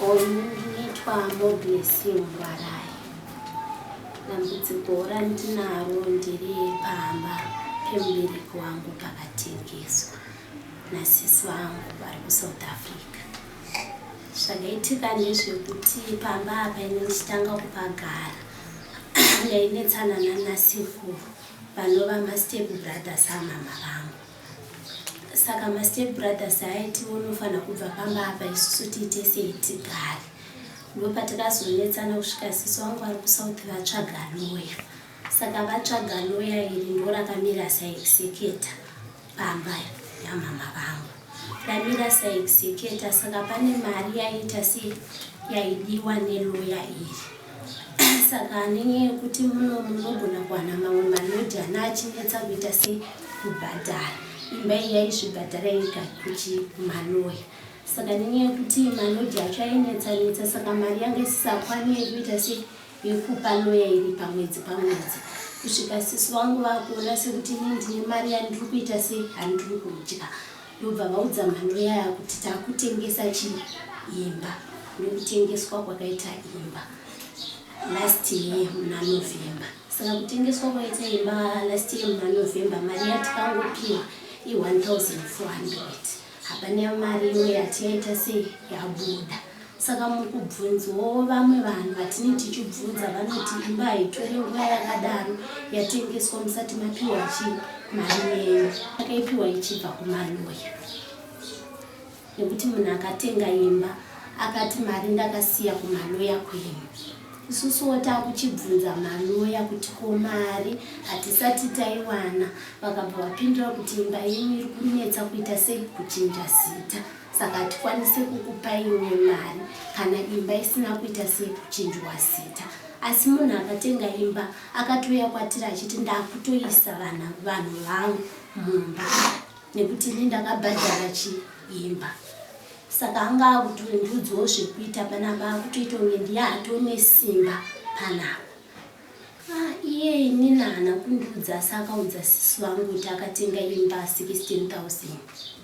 Ndinoitwa Moblessing Ngwarai. Dambudziko randinaro ndiri pamba pemubereki wangu pakatengeswa nasisi vangu vari kusouth africa zvakaitika ndezvekuti pamba apa ine ndichitanga kupagara ndainetsanana nasekuru vanova mastep brothers amama vangu saka mastep brothers aiti unofanira kubva pamba apa isusu tiite sei tigare ndopatikazonetsana kusvika sisi wangu ari kusouth vatsvaga loya saka vatsvaga loya iri ndo rakamira saexeketa pamba yamama vangu ramira saexeketa saka pane mari yaiita se yaidiwa neloya iri Saka nenyaya yekuti muno munogona kuwana mamwe manodhi ana achinetsa kuita se kubhadhara imba iyi yaizvibhadhara yega kuchi maloya saka nenyaya yekuti manodhi acho ainetsanetsa saka mari yanga isisakwani yekuita se yekupa loya iri pamwedzi pamwedzi kusvika sisi vangu vakuona sekuti ini ndine mari yandiri kuita se handiri kudya Ndobva vaudza mhando yaya kuti takutengesa chi imba nekutengeswa kwakaita imba last year muna November saka kutengeswa kwaita imba last year muna November mari yatikangopiwa i 1400 hapana mari imwe yati yaita sei yabuda Saka mukubvunzwawo vamwe vanhu vatine tichibvunza vanoti imba haitore nguva yakadaro yatengeswa musati mapiwa chi mari yenyu akaipiwa ichibva kumaloya nekuti munhu akatenga imba akati mari ndakasiya kumaloya kwenyu isusuwo takuchibvunza maloya kuti ko mari hatisati taiwana vakabva vapindura kuti imba yenyu iri kunetsa kuita sei kuchinja zita saka hatikwanise kukupai imwe mari kana imba isina kuita sekuchinjwa zita asi munhu akatenga imba akatouya kwatiri achiti ndakutoisa vana vanhu vangu mumba nekuti ini ndakabhadhara chiimba saka anga akutondiudzwo zvekuita panapa akutoita kunge ndiye atone simba panapa ah, iye ini naana kundiudza asi akaudza sisi vangu kuti akatenga imba 16 000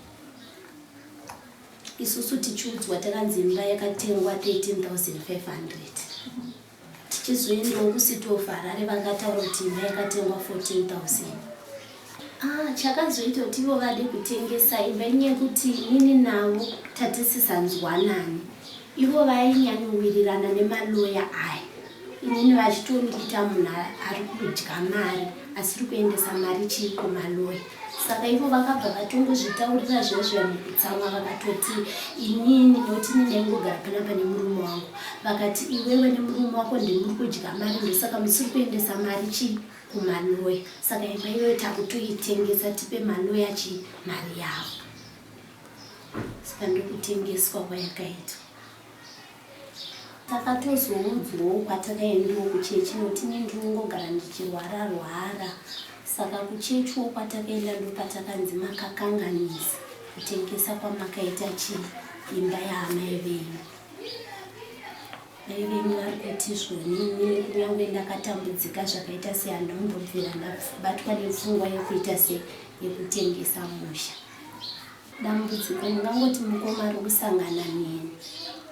isusu tichiudzwa takanzi imba yakatengwa 13500 tichizoendawo kucity of harare vakataura kuti imba yakatengwa 14000 ah, chakazoita kuti ivo vade kutengesa imba inyekuti nini navo tatisisanzwanani Ivo vainyanyowirirana nemaloya aya inini vachitondiita munhu ari kudya mari asiri kuendesa mari chii kumaloya saka ivo vakabva vatongozvitaurira zvezvo mukutsamwa vakatoti inini noti ndinengogara panapa nemurume wangu vakati iwewe nemurume wako ndimuri kudya mari ndosaka musiri kuendesa mari chii kumaloya saka imba iyoyo takutoitengesa tipe maloya chii mari yavo saka ndokutengeswa kwayakaitwa takatozoudzwawo kwatakaendiwo kuchechi noti ne ndingogara ndichirwara rwara saka kuchechiwo kwatakaenda ndopatakanzi makakanganisa kutengesa kwamakaita chii imba yaamai venyu mai venyu vari kuti zvonini kunyange ndakatambudzika zvakaita seandombobvira ndabatwa nepfungwa yekuita se yekutengesa musha Dambudziko ndingangoti mukoma ari kusangana neni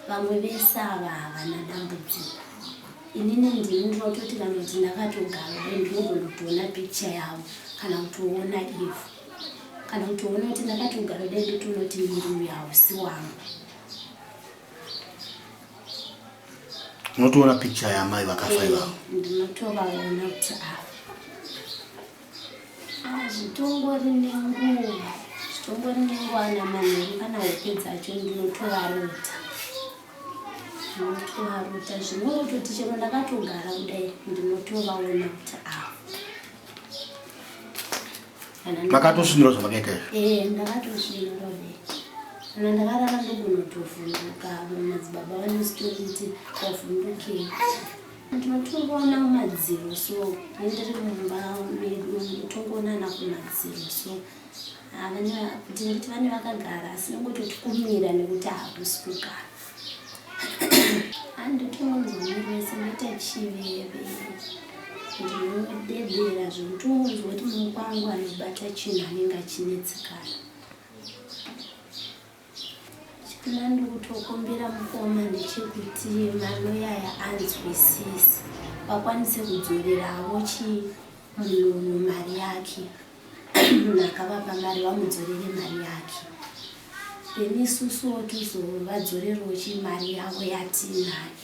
vamwe vese ava havana dambudziko inini ndini ndinototi kana kuti ndakatogara dai ndinogona kutoona pikicha yavo kana kutoona ivo kana kutoona kuti ndakatogara dai ndotonoti miri uyo hausi wangu unotoona pikicha yamai vakafa ivavo eh, ndinotovaona kuti ava Ah, zvitongori nenguva zvitongori nenguva ana manheru kana hope dzacho ndinotovarota ndinotovarota zvinototi chero ndakatogara kudai ndinotovaona kuti ava makatosvinura zvamakaita izvo e eh, ndakatosvinura kana ndakarara ndogonotovhunduka madzibaba vanositoiti wavhundukei Ndinotongoona madziro so ndiri mumba medu ndinotongoona ana kumadziro so ndinoti vane vakagara asi nongototi kumira nekuti hakusi kugara anditongonzwa miri wese ndoita chiveve ndinodedera zvekuti ungonzwa kuti mukwangu anobata chinhu anenge achinetsekana Chikna ndikutokumbira mukoma ndechekuti maloyaya anzwisise vakwanise kudzoreravo chi munhu mari yake munhu akavapa mari vamudzorere mari yake then isusuwo tizovadzorerwo chi mari yavo yatiinayo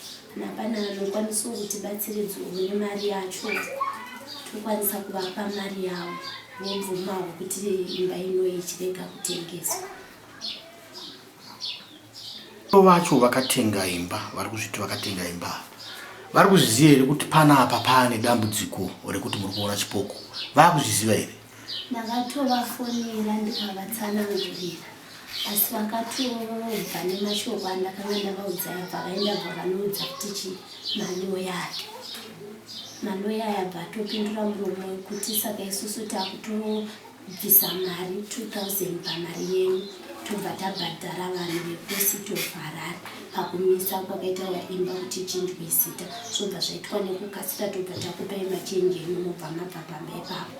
Hapana anokwanisawo kuti batsiridzawo nemari yacho tokwanisa kuvapa mari yavo vobvumawo kuti imba ino ichirega kutengeswa vacho vakatenga imba vari kuzviti vakatenga imba vari kuzviziva here kuti pana apa paane dambudziko rekuti muri kuona chipoko vakuzviziva here Ndakatovafonera ndikavatsanangurira asi vakatobva nemashoko andakanga ndavaudza yabva vaenda bva vanoudza kuti chi maloya ake maloya yabva atopindura muromo wekuti saka isusu takutobvisa mari 2000 pamari yenyu tobva tabhadhara vanhu vekusi tovarara pakumisa kwakaita vaimba kuti ichinjwe zita zvobva zvaitwa nekukasira tobva takupai machenji enyu mobva mabva pamba ipapo